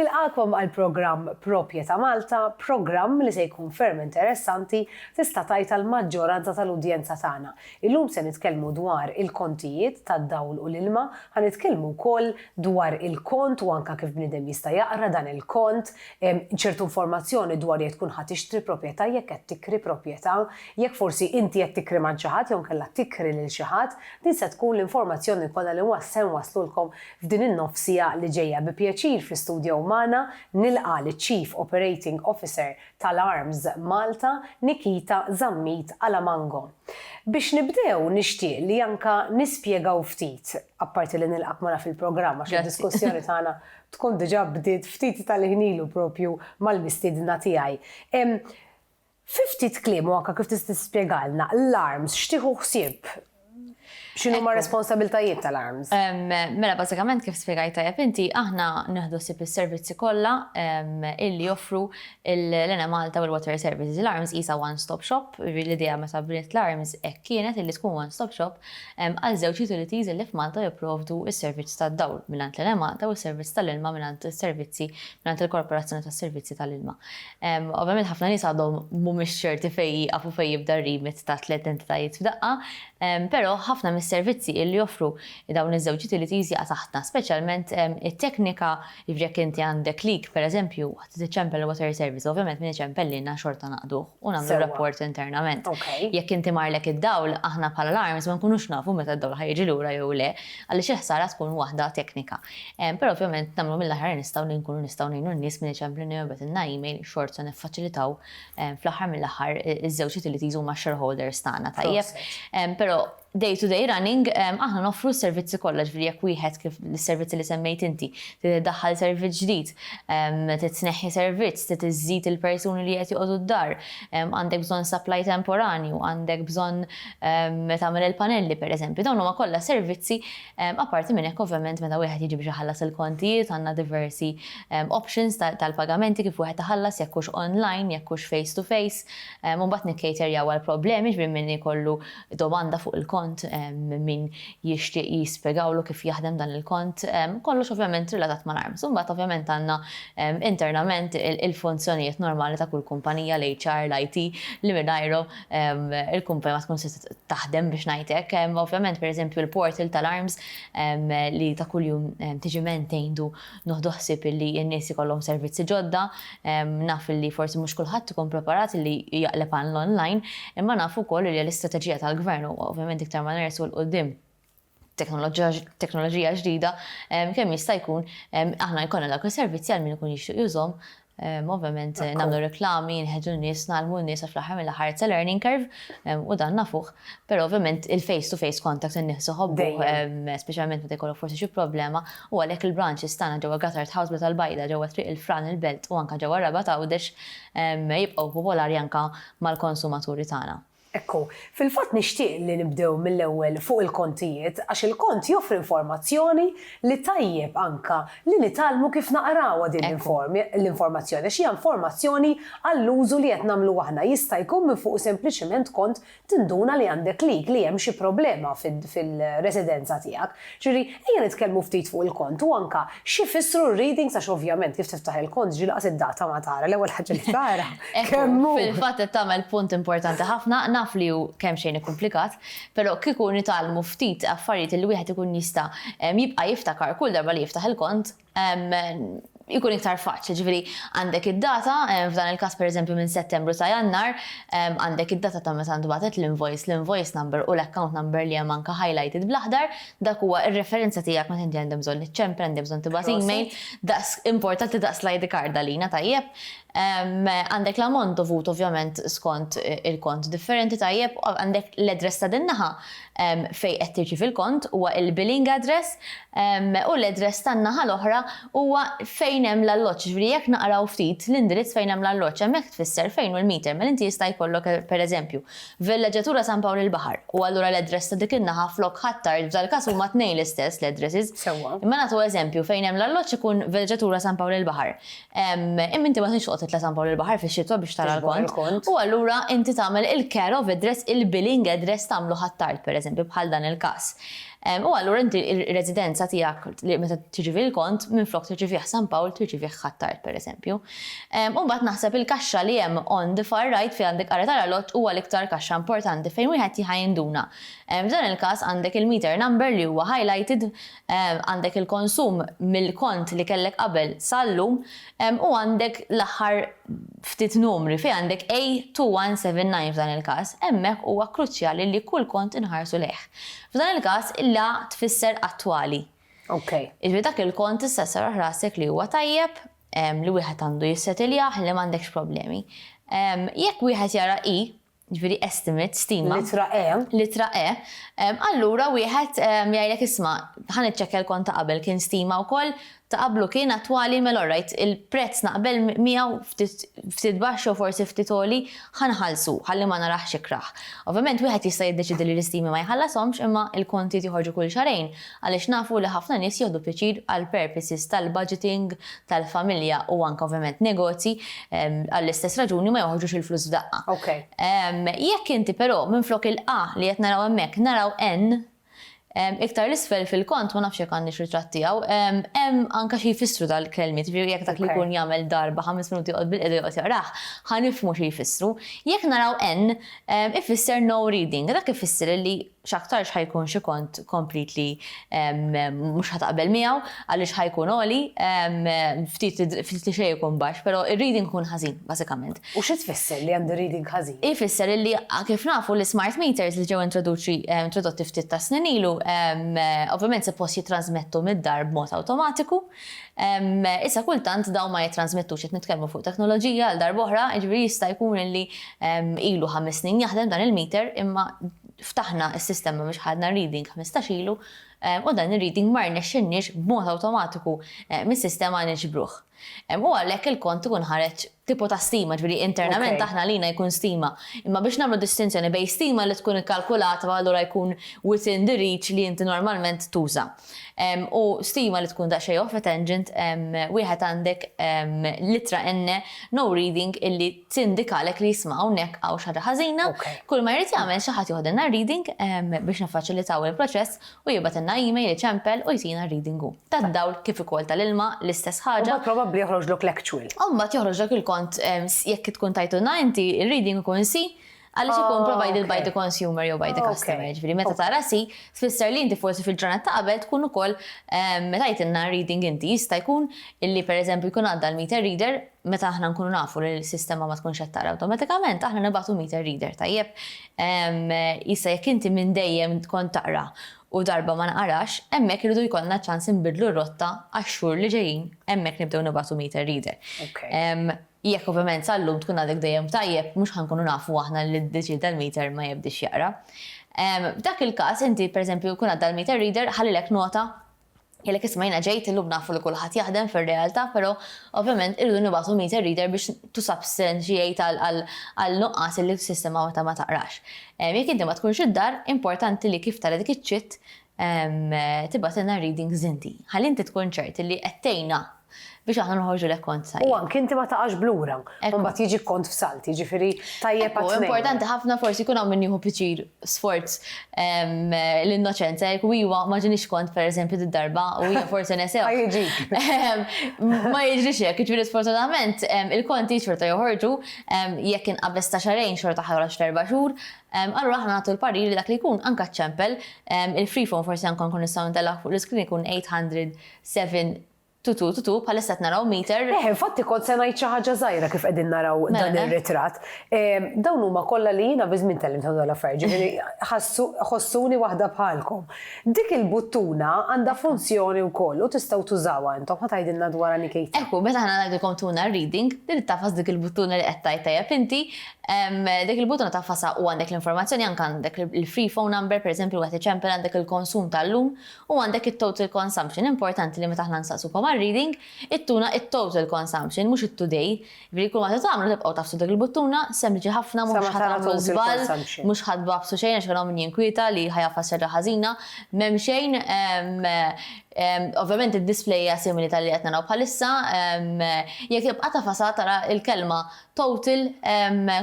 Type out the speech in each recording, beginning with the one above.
Nilqagħkom għall-programm Propjeta' Malta, programm li se jkun ferm interessanti, tista' tgħid għall-maġġoranza tal-udjenza tagħna. Illum se nitkellmu dwar il-kontijiet tad-dawl u l-ilma, ħa nitkellmu wkoll dwar il-kont u anke kif bniedem jista' jaqra dan il-kont, ċertu informazzjoni dwar jekk tkun ħa tixtri propjeta', jekk qed tikri propjeta', jekk forsi inti qed tikri man xi ħadd jew inkella tikri lil xi ħadd, din se tkun l-informazzjoni kollha li se nwasslulkom F'din in-nofs siegħa li ġejja bi pjaċir fi studjow magħna nilqa' liċ-Chief Operating Officer tal-Arms Malta Nikita Zammit Alamango. Biex nibdew nixtieq li anka nispjegaw ftit, apparti li nilqgħek magħna fil-programm għax id-diskussjoni tagħna tkun diġà bdiet ftit tal-ħin ilu propju mal-mistiedna tiegħi. Fi ftit kliem u anke kif tista' tispjegalna l-arms x'tieħu ħsieb? X'inhuma r-responsabiltajiet tal-arms? Mela bażikament kif spjegajt tajjeb inti, aħna nieħdu ħsieb is-servizzi kollha illi joffru l-Enemalta u l-Water Services. L-arms qisha one stop shop, jiġifieri l-idea meta bniet l-arms hekk kienet illi tkun one stop shop għal żewġ utilities illi f'Malta jipprovdu s-servizz tad-dawl mingħand l-Enemalta u s-servizz tal-ilma mingħand is-servizzi mingħand il-Korporazzjoni tas-Servizzi tal-Ilma. Ovvjament ħafna nies għadhom mhumiex ċerti fejn jieqaf u fejn jibda r-remit ta' tliet entitajiet f'daqqa, però ħafna mis-servizzi illi joffru dawn iż-żewġ utilities jaqa' taħtna, speċjalment it-teknika, jiġifieri jekk inti għandek leak, pereżempju, waqt li tiċċempel il-water service, ovvjament min iċempel lilna xorta naqduh u nagħmlu r-rapport internament. Jekk inti marlek id-dawl, aħna bħala alarms ma nkunux nafu meta d-dawl ħa jiġi lura jew le, għaliex il-ħsara tkun waħda teknika. Però ovvjament nagħmlu mill-aħjar li nistgħu li nkunu nistgħu ngħinu n-nies minn eċempju li jobgħatilna email xort se niffaċilitaw fl-aħħar mill-aħħar iż-żewġ utilities huma shareholders tagħna tajjeb. Però day to day running aħna noffru s-servizzi kollha ġifieri jekk wieħed kif is-servizzi li semmejt inti trid iddaħħal servizz ġdid, trid tneħħi servizz, trid iżżid il-persuni li qed joqogħdu d-dar, għandek bżonn supply temporanju, għandek bżonn tagħmel il-panelli pereżempju, dawn huma kollha servizzi Apparti minn hekk ovvjament meta wieħed jiġi biex iħallas il-kontijiet għandna diversi options tal-pagamenti kif wieħed iħallas jekk hux online, jekk hux face to face u mbagħad nikcaterjaw għal problemi jiġifieri min ikollu domanda fuq il-kont minn min jixtieq jispjegawlu kif jaħdem dan il-kont kollox ovvjament relatat mal-arms. U mbagħad ovvjament għandna internament il-funzjonijiet normali ta' kull kumpanija, l-HR, l-IT li mingħajrhom il-kumpanja ma tkunx setgħet taħdem biex ngħid hekk. Ovvjament, pereżempju, l-portal tal-arms li ta' kuljum tiġi maintained u noħdu ħsieb li n-nies ikollhom servizzi ġodda. Naf li forsi mhux kulħadd ikun preparat li jaqleb għall-online, imma naf ukoll li l-istrateġija tal-Gvern, u ovvjament iktar ma nersqu 'l quddiem, teknoloġija ġdida, kemm jista' jkun aħna jkollna dawk is-servizzi għal min ikun jixtieq jużhom. Ovvjament nagħmlu reklami, nħeġġu n-nies, ngħallmu n-nies għax fl-aħħar mill-aħħar it's a learning curve u dan nafuh. Però ovvjament il-face to face contact in-nies iħobbuh, speċjalment meta jkollok forsi xi problema u għalhekk il-branches tagħna ġewwa Gatard House Bla tal-Bajda, ġewwa Triq il-Fran il-Belt u anke ġewwa Rabat Għawdex jibqgħu popolari anke mal-konsumaturi tagħna. Ekku, fil-fatt nixtieq li nibdew mill-ewwel fuq il-kontijiet għax il-kont joffri informazzjoni li tajjeb anka li nitgħallmu kif naqrawha din l-informazzjoni għax hija informazzjoni għall-użu li qed nagħmlu aħna. Jista' jkun minn fuqu sempliċiment kont tinduna li għandek leak, li hemm xi problema fir-residenza tiegħek. Ġifieri, ejja nitkellmu ftit fuq il-kont u anke x'ifissru r-readings għax ovvjament kif tiftaħ il-kont ġieli qas id-data ma tara, l-ewwel ħaġa li tara kemm hu. Fil-fatt qed tagħmel punt importanti ħafna, naf li hu kemmxejn ikkumplikat, però kieku nitgħallmu ftit affarijiet li wieħed ikun jista' jibqa' jiftakar kull darba li jiftaħ il-kont, ikun iktar faċli, ġifieri għandek id-data, f'dan il-każ pereżempju minn Settembru sa Jannar, għandek id-data ta' meta ntbagħtet l-invoice, l-invoice number u l-account number li hemm anke highlighted bl-aħdar, dak huwa r-referenza tiegħek meta inti għandek bżonn iċċempel, għandek bżonn tibgħat email, daqs importanti daqs l-ID card għalina, tajjeb? Għandek l-ammont dovut ovvjament skont il-kont differenti tajjeb, għandek l-address ta' din naħa fejn qed tirċievi l-kont huwa il-billing address u l-address tan-naħa l-oħra huwa fejn hemm l-alloġġ, jiġifieri jekk naqraw ftit l-indirizz fejn hemm l-alloġġ hemmhekk tfisser fejn hu l-meter, mela inti jista' jkollok pereżempju Villeġġatura San Pawl il-Baħar u allura l-address ta' dik in-naħa flok Ħ'Attard f'dal-każ huma t-tnejn l-istess l-addresses. Imma nagħtu eżempju fejn hemm l-alloġġ ikun Villeġġatura San Pawl il-Baħar. Imma inti ma tridx toqgħod titla' San Pawl il-Baħar fix-xitwa biex tara l-kont, u allura inti tagħmel il-care of address, il-billing address tagħmlu Ħ'Attard, pereżempju, bħal dan il-każ. U allura inti r-residenza tiegħek li meta tirċievi l-kont, minflok tirċievih San Pawl, tirċievih Ħ'Attard, pereżempju. U mbagħad naħseb il-kaxxa li hemm on the far right fejn għandek Qara tal-Għalott huwa l-iktar kaxxa importanti fejn wieħed jħa jinduna. F'dan il-każ għandek il-meter number li huwa highlighted Għandek il-konsum mill-kont li kellek qabel sal-lum u għandek l-aħħar ftit numri fejn għandek A2179 f'dan il-każ. Hemmhekk huwa kruċjali li kull kont inħarsu lejh. F'dan il-każ il-A tfisser attwali. Jiġifieri dak il-kont issa serraħ rasek li huwa tajjeb, li wieħed għandu jissetiljaħ, li m'għandekx problemi. Jekk wieħed jara I, jiġifieri estimate, stima. Littra E. Littra E. Allura wieħed jgħidlek isma' ħa niċċekkja l-kont ta' qabel kien stima wkoll, ta' qablu kien attwali mela all right il-prezz naqbel miegħu ftit baxx jew forsi ftit għoli ħa nħallsu ħalli ma narax ikrah. Ovvjament wieħed jista' jiddeċiedi li l-istimi ma jħallashomx imma l-kontijiet joħorġu kull xahrejn. Għaliex nafu li ħafna nies jieħdu pjaċir għal purposes tal-budgeting, tal-familja u anke ovvjament negozji, għall-istess raġuni ma joħorġux il-flus f'daqqa. Jekk inti però minflok il-A li qed naraw hemmhekk naraw N, iktar 'l isfel fil-kont, ma nafx jekk għandniex ritratt tiegħu, hemm anke xi jfissru dal-kelmiet, jiġifieri jekk dak li jkun jagħmel darba ħames minuti joqgħod bil-qiegħda joqgħod jaqrah, ħa nifhmu xi jfissru. Jekk naraw N, ifisser no reading. Dak ifisser li x'aktarx ħa jkun xi kont komplit li mhux ħa taqbel miegħu għaliex ħa jkun għoli, ftit li xejn ikun baxx, però r-reading ikun ħażin bażikament. U xi tfisser li għandi reading ħażin? Ifisser illi kif nafu l-ismart meters li ġew introdotti ftit tas-snin ilu, ovvjament suppost jittrażmettu mid-dar b'mod awtomatiku, issa kultant dawn ma jittrażmettux, qed nitkellmu fuq teknoloġija għal darb'oħra, jiġifieri jista' jkun illi ilu ħames snin jaħdem dan il-meter imma ftaħna s-sistema biex ħadna reading ħmistax ilu u dan ir-reading ma rnexxinniex b'mod awtomatiku mis-sistema niġbruh. U għalhekk il-kont ikun ħareġ tipu ta' stima, ġifieri internament aħna għalina jkun stima. Imma biex nagħmlu distinzjoni bejn stima li tkun ikkalkulata u allura jkun within the reach li inti normalment tuża. U stima li tkun daqsxejn off-tangent wieħed għandek l-ittra N no reading illi tindikalek li isma' hawnhekk hawn xi ħaġa ħażina, kull ma jrid jagħmel xi ħadd joħdilna r-reading biex niffaċilitaw il-proċess u jibgħatilna email iċempel u jtina r-reading hu. Tad-dawl kif ukoll tal-ilma l-istess ħaġa. U mbagħad probabbli joħroġlok l-actual. U mbagħad joħroġlek il-kont jekk tkun tajtulna inti r-reading ikun C għaliex ikun provided by the consumer jew by the customer. Jiġifieri meta tara C tfisser li inti forsi fil-ġranet ta' qabel tkun ukoll tajtilna r-reading inti. Jista' jkun illi pereżempju jkun għadda l-meter reader, Meta aħna nkunu nafu li l-sistema ma tkunx qed taqra awtomatikament, aħna nibagħtu meter reader, tajjeb? Issa jekk inti minn dejjem kont taqra u darba ma nqarax, hemmhekk irridu jkollna ċans inbiddlu r-rotta għax-xhur li ġejjin, hemmhekk nibdew nibagħtu meter reader. Jekk ovvjament sal-lum tkun għadek dejjem tajjeb, mhux ħa nkunu nafu aħna li ddeċieda l-meter ma jibdiex jaqra. F'dak il-każ inti pereżempju jkun għadda l-meter reader ħallilek nota Jgħidlek isma' jiena ġejt illum nafu li kulħadd jaħdem fir-realtà però ovvjament irridu nibagħtu meter reader biex to substantiate għal nuqqas illi s-sistema meta ma taqrax. Jekk inti ma tkunx id-dar, importanti li kif tara dik iċ-ċitt tibgħatilna readings inti. Ħalli inti tkun ċert illi qed tgħinna biex aħna noħorġu lek kont sajjeb. U anki inti ma taqax b'lura, u mbagħad jiġi kont f'salti, jiġifieri tajjeb għat-tnejn. Ekku, importanti ħafna forsi jkun hawn min jieħu piċir sforz ehm, l-innoċenza, jekk iwa ma ġiniex kont pereżempju d-darba u hija forsi nesew. Ehm, ma jiġrix hekk, jiġifieri sfortunatament ehm, il-konti xorta joħorġu jekk inqabeż ta' xarejn xorta ħarġ l-erba' xhur, allura aħna nagħtu l-parir li dak li jkun anka ċempel il-free forsi anka nkun nistgħu ntellaq fuq l-iskrin ikun 807 Tu tu tu tu, bħalissa qed naraw meter. Eħ, infatti kont se ngħid xi ħaġa żgħira kif qegħdin naraw Mela, dan eh. ir-ritratt. Ehm, Dawn huma kollha li jiena bi żmien tgħellimthom dawn l-affarijiet, ġifieri ħassu- ħossuni waħda bħalkom. Dik il-buttuna għandha funzjoni wkoll u tistgħu tużawha intom, ħa tgħidilna dwarha Nikita. Ekku, meta aħna ngħidilkom tuna reading, trid tafas dik il-buttuna li qed tgħid tajjeb inti, em, dik il-buttuna tafasha u għandek l-informazzjoni anke għandek il-free phone number, pereżempju wieħed iċempel għandek il-konsum tal-lum U għandek it-total consumption, importanti li meta aħna nsaqsukom għar-reading, ittuna it-total consumption, mhux it-today. Jiġifieri kull ma se tagħmlu tibqgħu tafsu dik il-buttuna, sempliċi ħafna mhux ħa tagħmlu żball, mhux ħa tbagħbsu xejn għax hawn min jinkwieta li ħa jgħaffas xi ħaġa ħażina, m'hemm xejn, ovvjament id-display hija simili tal-li qed naraw bħalissa, jekk tibqa' tagħfasha tara l-kelma total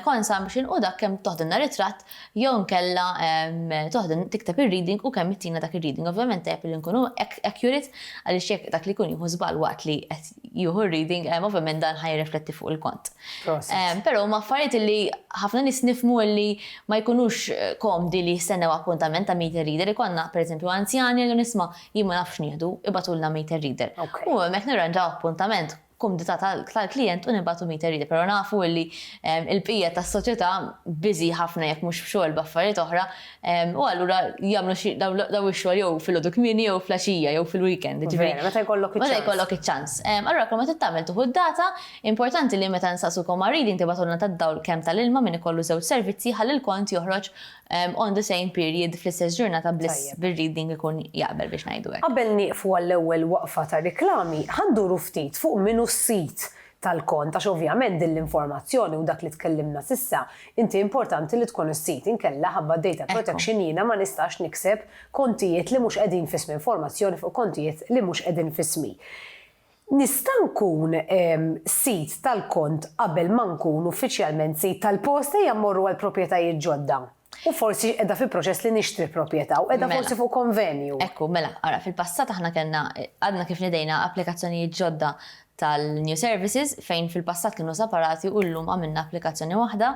consumption u dak kemm toħdilna ritratt jew inkella toħdilna tikteb ir-reading u kemm ittina dak ir-reading. Ovvjament tajjeb li nkunu accurate għaliex jekk dak li jkun jieħu żball waqt li qed jieħu r-reading ovvjament dan ħa jirrifletti fuq il-kont. Però huma affarijiet li ħafna nies nifhmu li ma jkunux komdi li jistennew appuntament ta' meter reader. Ikollna pereżempju anzjani li jgħidulna isma' jien ma nafx nieħdu, ibagħtulna meter reader. U hemmhekk nirranġaw appuntament. kumdità tal-klijent u nibagħtu meter reader, però nafu li l-bqija tas-soċjetà busy ħafna jekk mhux f'xogħol b'affarijiet oħra u allura jagħmlu xi dawn ix-xogħol jew filgħodu kmieni jew flaxija jew fil-weekend, jiġifieri. Veru, meta jkollok iċ-ċans. Meta jkollok iċ-ċans. Allura kull ma trid tagħmel tieħu d-data, importanti li meta nsaqsukom għar-reading tibagħtulna tad-dawl kemm tal-ilma, min ikollu żewġ servizzi, ħalli l-kont joħroġ On the same period, fl-istess ġurnata bliss bir-reading ikun jaqbel biex ngħidu hekk. Qabel nieqfu għall-ewwel waqfa tar-riklami, ħa nduru ftit fuq min hu s-sid tal-kont għax ovvjament din l-informazzjoni u dak li tkellimna s'issa inti importanti li tkun is-sid inkella ħabba data protection jiena ma nistax nikseb kontijiet li mhux qegħdin f'ismi informazzjoni fuq kontijiet li mhux qegħdin f'ismi. Nista' nkun sid tal-kont qabel ma nkun uffiċjalment sid tal-post? Ejja mmorru għal proprjetajiet ġodda. U forsi qiegħda fi proċess li nixtri proprjetà u qiegħda forsi fuq konvenju. Hekk hu, mela, ara, fil-passat aħna kellna, għadna kif nedejna applikazzjonijiet ġodda tal-New Services fejn fil-passat kienu separati u llum għamilna applikazzjoni waħda.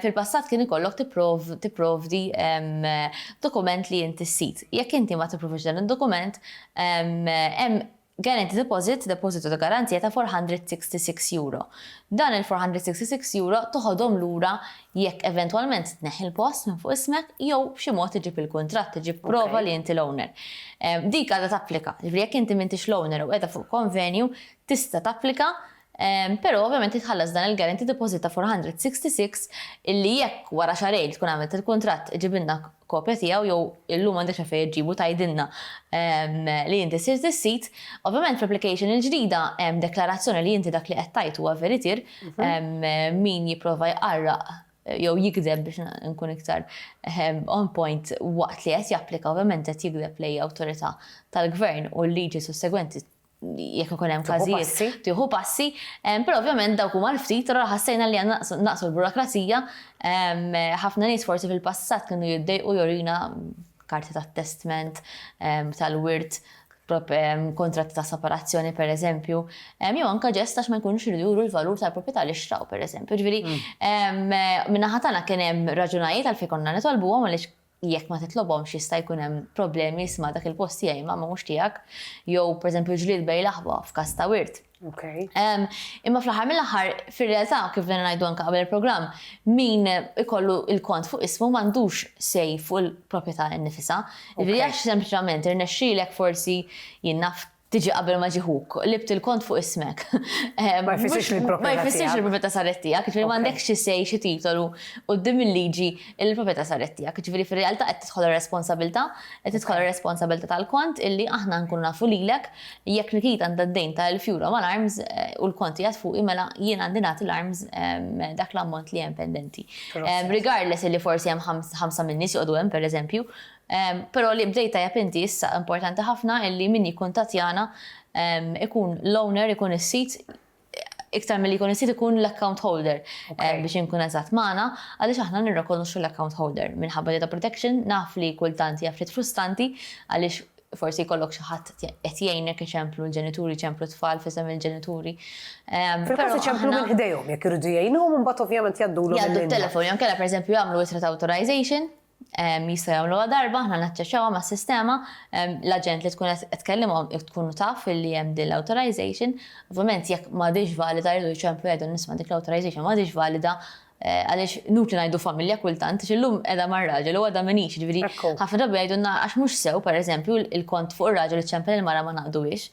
Fil-passat kien ikollok tipprovdi dokument li inti sid. Jekk inti ma tipprovdix dan id-dokument, hemm Guaranty Deposit, Depożitu ta' Garanzija ta' €466. Dan il-€466 toħodhom lura jekk eventwalment tneħħi l-post minn fuq ismek jew b'xi mod iġib il-kuntratt, iġib prova li inti l-owner. Dik għadha tapplika. Jiġifieri jekk inti m'intix l-owner u qiegħda fuq konvenju, tista' tapplika Pero ovvjament li tħallas dan il-guarantee deposit ta' 466 illi jekk wara xahrejn tkun għamilt il-kuntratt iġibilna kopja tiegħu jew illum m'għandekx għalfejn iġġibu tgħidilna li inti sirt is-sid. Ovvjament fl-application il-ġdida hemm deklarazzjoni li inti dak li qed tgħid huwa veritier, min jipprova jqarraq jew jigdeb biex inkun iktar on point waqt li qed japplika ovvjament qed jigdeb lejn awtorità tal-gvern u l-liġi sussegwenti jekk ikun hemm każijiet tieħu passi, però ovvjament dawk huma l-ftit, allura ħassejna li għandna naqsu l-burokrazija, ħafna nies forsi fil-passat kienu jiddejqu jurina karti ta' testment, tal-wirt, kuntratti ta' separazzjoni pereżempju, jew anke ġest għax ma jkunux iridu juru l-valur tal-proprjetà li xtraw pereżempju. Jiġifieri min-naħa tagħna kien hemm raġunajiet għalfejn konna nitolbuhom għaliex jekk ma titlobhomx jista' jkun hemm problemi, isma' dak il-post tiegħi ma mhux tiegħek, jew pereżempju ġlied bejn l-aħwa f'każ ta' wirt. Imma fl-aħħar mill-aħħar, fir-realtà, kif bdejna ngħidu anke qabel il-programm, min ikollu l-kont fuq ismu m'għandux say fuq il-proprjetà innifisha. Jiġifieri għax sempliċement irnexxielek forsi, jien naf tiġi qabel ma ġie ħuk, libt il-kont fuq ismek. Ma jfissirx li l-proprjetà tiegħek. Ma jfissirx li l-proprjetà saret tiegħek, jiġifieri ma għandekx xi say, xi titolu quddiem il-liġi li l-proprjetà saret tiegħek. Jiġifieri fir-realtà qed tidħol ir-responsabilità, qed tidħol ir-responsabilità tal-kont illi aħna nkunu nafu lilek jekk Nikita għandha d-dejn ta' elf euro mal-arms u l-kont qiegħed fuqi mela jien għandi nagħti l-arms dak l-ammont li hemm pendenti. Regardless illi forsi hemm ħamsa min-nies joqogħdu hemm pereżempju, Pero li bdejt tajjeb inti issa importanti ħafna illi min jikkuntatjana ikun l-owner ikun is-sit iktar milli jkun is-sit ikun l-account holder biex inkun eżatt magħna għaliex aħna nirrekonoxxu l-account holder minħabba data protection naf li kultant hija ftit frustanti għaliex forsi jkollok xi ħadd qed jgħinek iċemplu l-ġenituri jċemplu t-tfal f'isem il-ġenituri. Fil-każ iċemplu minn ħdejhom jekk iridu jgħinuhom imbagħad ovvjament jgħaddulhom. Jgħaddu t-telefon jew kellha pereżempju jagħmlu ittra ta' authorization jistgħu jagħmluha darba aħna naċċeċċawha mas-sistema, l-aġent li tkun qed tkellimhom tkun taf li hemm din l-authorization, ovvjament jekk m'għadhiex valida jridu jċemplu jgħidu nisma' dik l-authorization m'għadhiex valida għaliex inutli ngħidu familja kultant għax illum qiegħda mar-raġel u għada m'iniex, jiġifieri ħafna drabi jgħidulna għax mhux sew pereżempju il-kont fuq ir-raġel li ċċempel il-mara ma naqduhiex.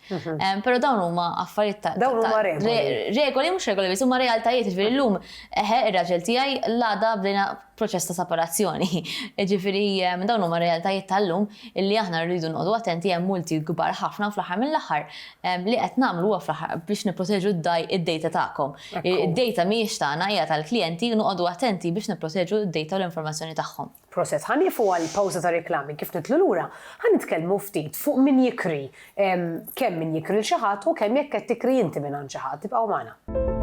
Però dawn huma affarijiet ta' Dawn huma regoli. Regoli mhux regoli biss huma realtajiet, jiġifieri llum eħe ir-raġel tiegħi l-għada bdejna proċess ta' separazzjoni. Jiġifieri dawn huma r-realtajiet tal-lum li aħna rridu noqogħdu attenti hemm multi kbar ħafna u fl-aħħar mill-aħħar li qed nagħmlu huwa fl-aħħar biex nipproteġu d-data tagħkom. Id-data mhijiex tagħna hija tal-klijenti u noqogħdu attenti biex nipproteġu d-data u l-informazzjoni tagħhom. Proset, ħa nieqfu għal pawża tar-reklami, kif nidħlu lura, ħa nitkellmu ftit fuq min jikri Kemm min jikri lil xi ħadd u kemm jekk qed tikri inti mingħand xi ħadd. Ibqgħu magħna.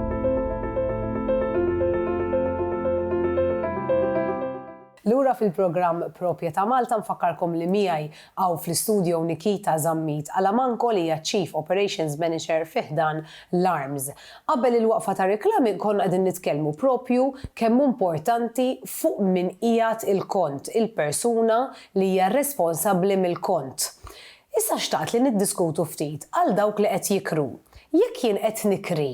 Lura fil-programm Propjeta' Malta nfakkarkom li miegħi hawn fl-istudio Nikita Zammit Alamanco li hija Chief Operations Manager fi ħdan l-Arms. Qabel il-waqfa tar-riklami konna qegħdin nitkellmu propju kemm hu importanti fuq min qiegħed il-kont, il-persuna li hija responsabbli mill-kont. Issa xtaqt li niddiskutu ftit għal dawk li qed jikru. Jekk jien qed nikri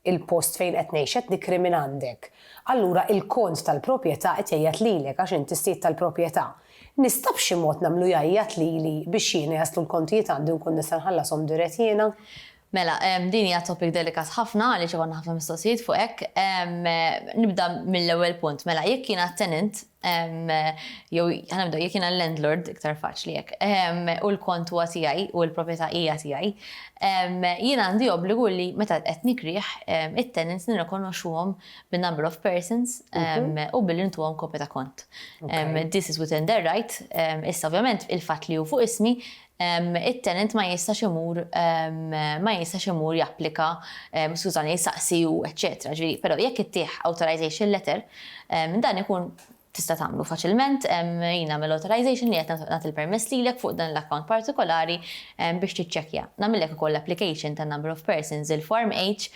l-post fejn qed ngħix, qed nikri minn għandek, allura il-kont tal-propjetà qed jgħajjat lilek għax int is-sid tal-propjetà. Nista' b'xi mod nagħmlu jgħajjat lili biex jiena jaslu l-kontijiet għandi u nkun nista' nħallashom dirett jiena? Mela, din hija topic delikat ħafna għaliex ikonna ħafna mistoqsijiet fuq hekk. Nibda mill-ewwel punt. Mela, jekk jiena tenant, jew ħa nibdew, jekk jiena l-landlord, iktar faċli hekk, u l-kont huwa tiegħi u l-proprjetà hija tiegħi, jiena għandi obbligu li meta qed nikrih, it-tenants nirrikonoxxuhom bin-number of persons u billi ntuhom kopja ta' kont. This is within their right. Issa ovvjament, il-fatt li hu fuq ismi, it-tenant ma jistax imur ma jistax imur japplika skużani jsaqsi u eċċetera. Ġifieri però jekk ittih authorization letter dan ikun tista' tagħmlu faċilment jien nagħmel authorization li qed nagħti l-permess lilek fuq dan l-account partikolari biex tiċċekkja. Nagħmillek ukoll l-application tan-number of persons, il-form H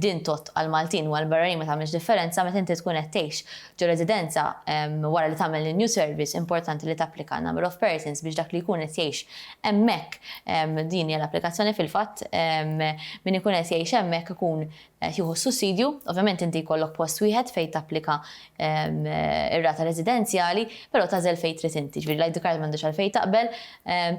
din tgħodd għall-Maltin u għall-barranin ma tagħmilx differenza meta inti tkun qed tgħix Ġo residenza, wara li tagħmel in-new service, importanti li tapplika number of persons biex dak li jkun qed jgħix hemmhekk, din hija l-applikazzjoni fil-fatt, min ikun qed jgħix hemmhekk ikun qed jieħu s-sussidju. Ovvjament inti jkollok post wieħed fejn tapplika r-rata residenzjali, però tagħżel fejn trid inti. Ġifieri l-ID card m'għandux għalfejn taqbel,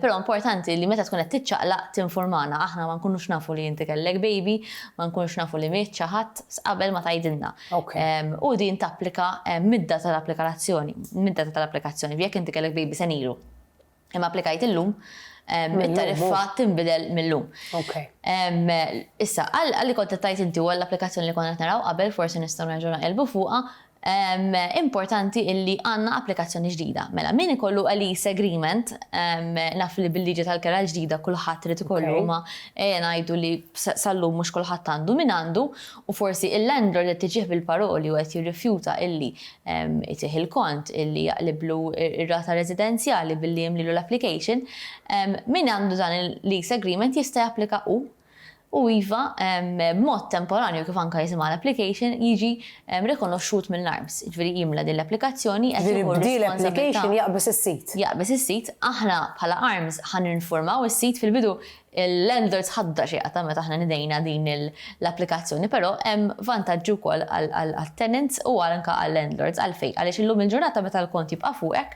però importanti li meta tkun qed tiċċaqlaq tinfurmana. Aħna ma nkunux nafu li inti kellek baby, ma nkunux nafu li miet xi ħadd, qabel ma tgħidilna. u din tapplika mid-data tal-applikazzjoni, mid-data tal-applikazzjoni, jekk inti kellek baby sena ilu imma applikajt illum, it-tariffa tinbidel mil-lum. Issa, għal li kont qed tgħid inti u għall-applikazzjoni li konna qed naraw qabel, forsi nistgħu nerġgħu naqilbu fuqha, importanti illi għandna applikazzjoni ġdida. Mela, min ikollu a lease agreement, naf li bil-liġi tal-kera l-ġdida kulħadd irid ikollu imma ejja ngħidu li sal-lum mhux kulħadd għandu, min għandu, u forsi il-landlord qed iġigħ bil-paroli u qed jirrifjuta illi jtih il-kont, illi jaqliblu r-rata residenzjali billi jimlilu l-application, min għandu dan il-lease agreement jista' japplika hu, u iva, b'mod temporanju kif anke jisimha l-application, jiġi rikonoxxut mill-ARMS, jiġifieri jimla din l-applikazzjoni qed jieħu r-responsabbiltà. Jiġifieri b'din l-application jaqbeż is-sit. Jaqbeż is-sit, aħna bħala ARMS ħa ninfurmaw is-sit fil-bidu Il-landlords ħadda xi qatgħa meta aħna nidejna din l-applikazzjoni, però hemm vantaġġi wkoll għat-tenants u anke għal-landlords. Għalfejn? Għaliex illum il-ġurnata meta l-kont jibqa' fuqek,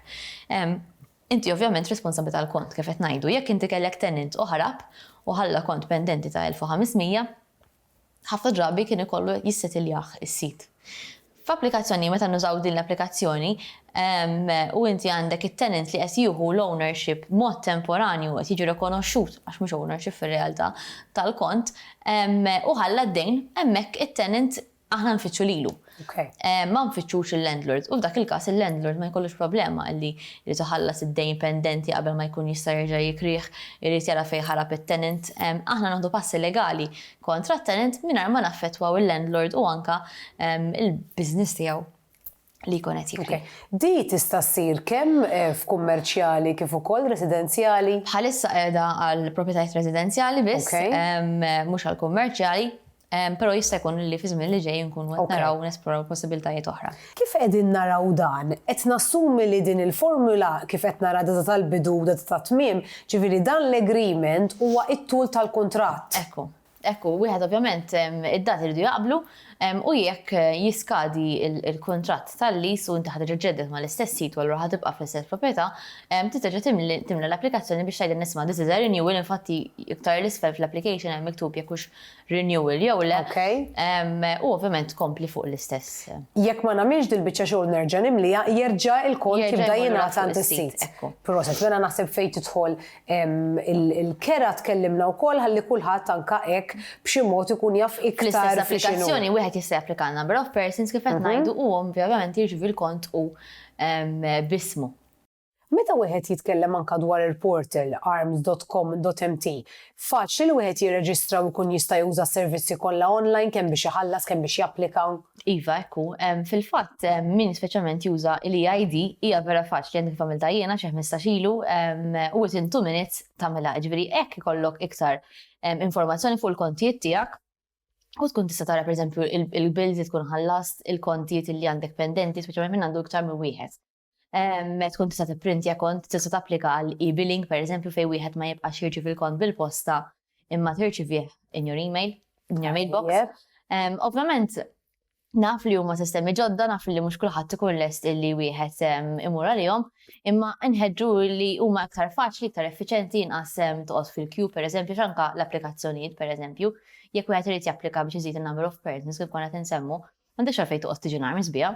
inti ovvjament responsabbli tal-kont, kif qed ngħidu. Jekk inti kellek tenant u ħarab u ħalla kont pendenti ta' elf u ħames mija, ħafna drabi kien ikollu jissettiljah is-sit. F'applikazzjoni, meta nużaw din l-applikazzjoni, u inti għandek it-tenant li qed jieħu l-ownership b'mod temporanju qed jiġi rikonoxxut, għax mhux ownership fir-realtà, tal-kont, u ħalla d-dejn, hemmhekk it-tenant aħna nfittxu lilu. ma nfittxux il-landlord u f'dak il-każ il-landlord ma jkollux problema illi jrid iħallas id-dejn pendenti qabel ma jkun jista' jerġa' jikrih, irid jara fejn ħarab it-tenant. Aħna noħdu passi legali kontra t-tenant mingħajr ma naffettwaw il-landlord u anke l-business tiegħu li jkun qed jikri. Di tista' ssir kemm f'kummerċjali kif ukoll residenzjali? Bħalissa qiegħda għall-proprjetajiet residenzjali biss, mhux għall-kummerċjali. Però jista' jkun li fiż-żmien li ġej inkunu qed naraw u nesploraw possibiltajiet oħra. Kif qegħdin naraw dan? Qed nassumi li din il-formula kif qed nara data tal-bidu u data tat-tmiem, ġifieri dan l-agreement huwa t-tul tal-kuntratt. Ekku. Ekku. Wieħed ovvjament id-dati jridu jaqblu u jekk jiskadi l-kuntratt tal-lease u inti ħa terġa' ġġedded mal-istess sit u allura ħa tibqa' fl-istess proprjetà, trid terġa' timla l-applikazzjoni biex tgħidilna isma' this is a renewal, infatti iktar 'l isfel fl-application hemm miktub jekk hux renewal jew le. U ovvjament tkompli fuq l-istess. Jekk ma nagħmilx dil-biċċa xogħol nerġa' nimliha, jerġa' il-kont jibda jingħad għand is-sit. Proset, mela naħseb fejn tidħol il-kera tkellimna wkoll ħalli kulħadd anke hekk b'xi mod ikun jaf iktar. Fl-istess applikazzjoni wieħed jista' japplika għal number of persons kif qed ngħidu u ovvjament jirċievi l-kont hu b'ismu. Meta wieħed jitkellem anka dwar il-portal arms.com.mt, faċli li wieħed jirreġistra u jkun jista' juża s-servizzi kollha online kemm biex iħallas kemm biex japplika. Iva hekk hu. Fil-fatt min speċjalment juża l-e-ID hija vera faċli għandi kif għamiltha jiena xi ħmistax ilu u within two minutes tagħmilha. Jiġifieri hekk ikollok iktar informazzjoni fuq il-kontijiet tiegħek u tkun tista' tara pereżempju il-bills li tkun ħallast, il-kontijiet li għandek pendenti, speċjalment min għandu iktar minn wieħed. tkun tista' tipprintja kont tista' tapplika għal e-billing pereżempju fejn wieħed ma jibqax jirċievi l-kont bil-posta imma tirċivih in your email, in your mailbox. Ovvjament, naf li huma sistemi ġodda, naf li mhux kulħadd ikun lest illi wieħed imur għalihom, imma nħeġġu li huma aktar faċli, aktar effiċenti inqas toqgħod fil-queue pereżempju x'anka l-applikazzjonijiet pereżempju, jekk wieħed irid japplika biex iżid in-number of persons kif konna tinsemmu, m'għandekx għalfejn toqgħod tiġi nar misbija.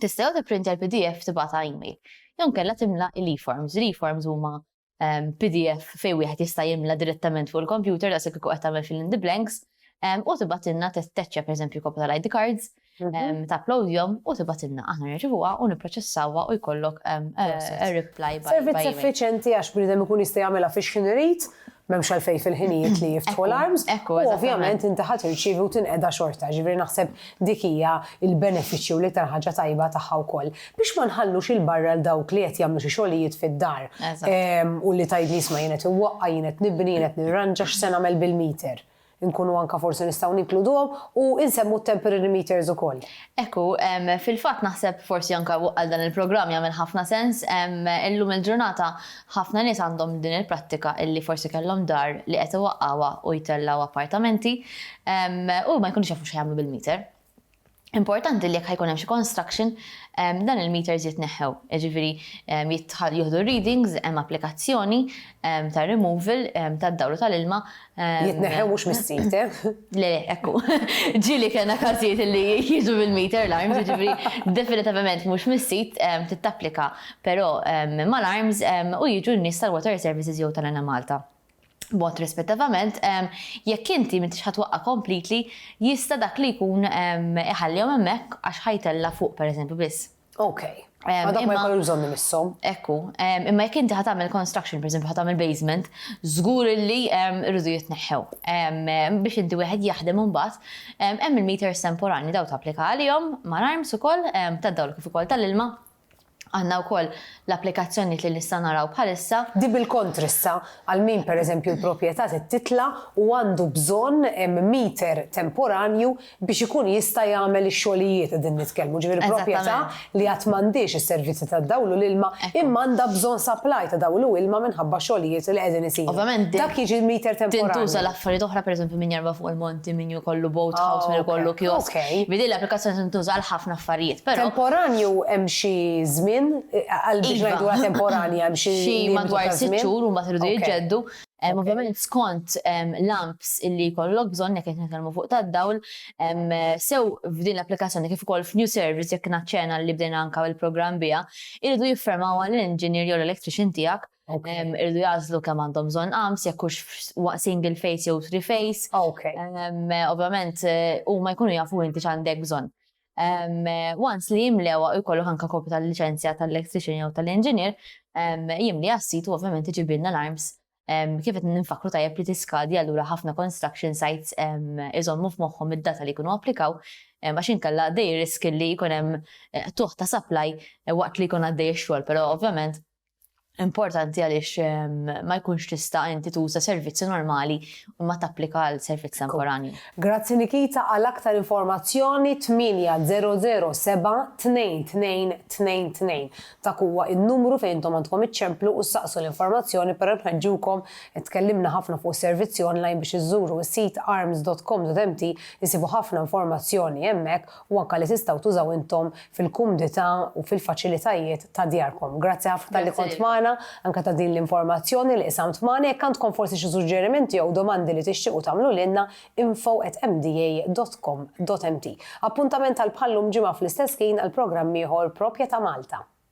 Tista' jew tipprintja l-pdf tibgħatha email, jew inkella timla l-eForms. L-eForms huma pdf fejn wieħed jista' jimla direttament fuq il-kompjuter daqshekk kieku qed tagħmel fill in the blanks u tibgħatilna tettachja pereżempju kopja tal-ID cards, tapplowdjhom u tibgħatilna. Aħna nirċivuha u nipproċessawha u jkollok reply by email. Servizz effiċjenti għax bniedem ikun jista' jagħmilha fix-x'ħin irid M'hemmx għalfejn fil-ħinijiet li jiftħu l-arms. U ovvjament inti ħadd irċievi u tinqeda xorta, ġifieri naħseb dik hija l-benefiċċju u l-iktar ħaġa tajba tagħha wkoll. Biex ma nħallux il-barra l dawk li qed jagħmlu xi xogħlijiet fid-dar. U li tgħidli isma' jien qed inwaqqa', jien qed nibni, jien qed nirranġa x'se nagħmel bil-meter. Inkunu anke forsi nistgħu ninkluduhom u nsemmu t-temporary meters ukoll. Hekk hu. Fil-fatt naħseb forsi anke għal dan il-programm jagħmel ħafna sens. Illum il-ġurnata ħafna nies għandhom din il-prattika li forsi kellhom dar li qed iwaqqgħuha u jtellgħu appartamenti u ma jkunux jafu x'ħajagħmlu bil-meter. Importanti li jekk ħajkun hemm xi construction, ehm, dan il-meters jitneħħew. Jiġifieri ehm, jitħal jieħdu readings, hemm applikazzjoni ehm, ta' removal tad-dawl u tal-ilma. Jitneħħew mhux mis-sit, eh? Le, le, ekku. Ġieli kellna każijiet li jiġu bil-meter l-arms, jiġifieri definitivament mhux mis-sit tittapplika, però mal-arms u jiġu n-nies tal-water services jew tal-Ena Malta. b'mod rispettivament, jekk inti m'intix ħa twaqqa' completely, jista' dak li jkun iħallihom hemmhekk għax ħa jtella' fuq pereżempju biss. Ok. Ma dawk ma jkollux bżonn imisshom. Ekku. Imma jekk inti ħa tagħmel construction, pereżempju ħa tagħmel basement, żgur illi jridu jitneħħew. Biex inti wieħed jaħdem imbagħad, hemm il-meters temporanji, dawn tapplika għalihom, ma' alarms ukoll, tad-dawl kif ukoll tal-ilma, Għandna wkoll l-applikazzjonijiet li nista' naraw bħalissa. Di bil-kontr issa, għal min pereżempju l-proprjetà trid titla' u għandu bżonn meter temporanju biex ikun jista' jagħmel ix-xogħlijiet qegħdin nitkellmu, ġifieri proprjetà li għad m'għandhiex is-servizzi tad-dawl u l-ilma imma għandha bżonn supply ta' dawl u ilma minħabba xogħlijiet li qegħdin isiru. Ovvjament, dak jiġi meter temporanju. Tintuża l-affarijiet oħra pereżempju min jerba' fuq il-monti, min. ikollu boat house, min ikollu kiosk. Bi din l-applikazzjoni tintuża għal ħafna affarijiet, però. Temporanju hemm xi żmien għal biex ngħiduha temporanja hemm xi limitu ta' żmien? Xi madwar sitt xhur u mbagħad iridu jiġġeddu. Ovvjament skont l-amps li jkollok bżonn jekk qed nitkellmu fuq tad-dawl, sew f'din l-applikazzjoni kif ukoll f'new service jekk naċċena li bdejna anke il-programm biha, iridu jiffermawha l-engineer jew l-electrician tiegħek Irdu jazlu kemm għandhom bżonn qams, jekk hux single face jew three face. Ovvjament eh, huma jkunu jafu inti x'għandek bżonn. Once li jimlewa jkollu ħanka kopju tal-liċenzja tal-electrician jew tal-engineer, jimli għassitu ovvjament iġibilna l-arms kif qed ninfakru tajjeb li tiskadi allura ħafna construction sites iżommu f'moħħhom id-data li jkunu applikaw għax inkella dej risk li jkun hemm eh, tuħ ta' supply eh, waqt li jkun għaddej ix-xogħol, però ovvjament importanti għaliex ehm, ma jkunx tista' inti tuża servizzi normali u ma tapplika għal servizz temporanju. Grazzi Nikita għal aktar informazzjoni 800722222 ta' kuwa il-numru fejn intom għandkom iċċemplu u saqsu l-informazzjoni per nħeġġukom tkellimna ħafna fuq servizzi online biex iżżuru s-sit arms.com.mt jisibu ħafna informazzjoni hemmhekk u anke li tistgħu tużaw intom fil-kumdità u fil-faċilitajiet ta' djarkom. Grazzi ħafna talli kont magħna, anke ta' din l-informazzjoni li qsamt magħna. Jekk għandkom forsi xi suġġerimenti jew domandi li tixtiequ tagħmlu lilna, info@mda.com.mt. Appuntament għal bħal-lum ġimgħa fl-istess ħin għal programm ieħor propja ta' Malta.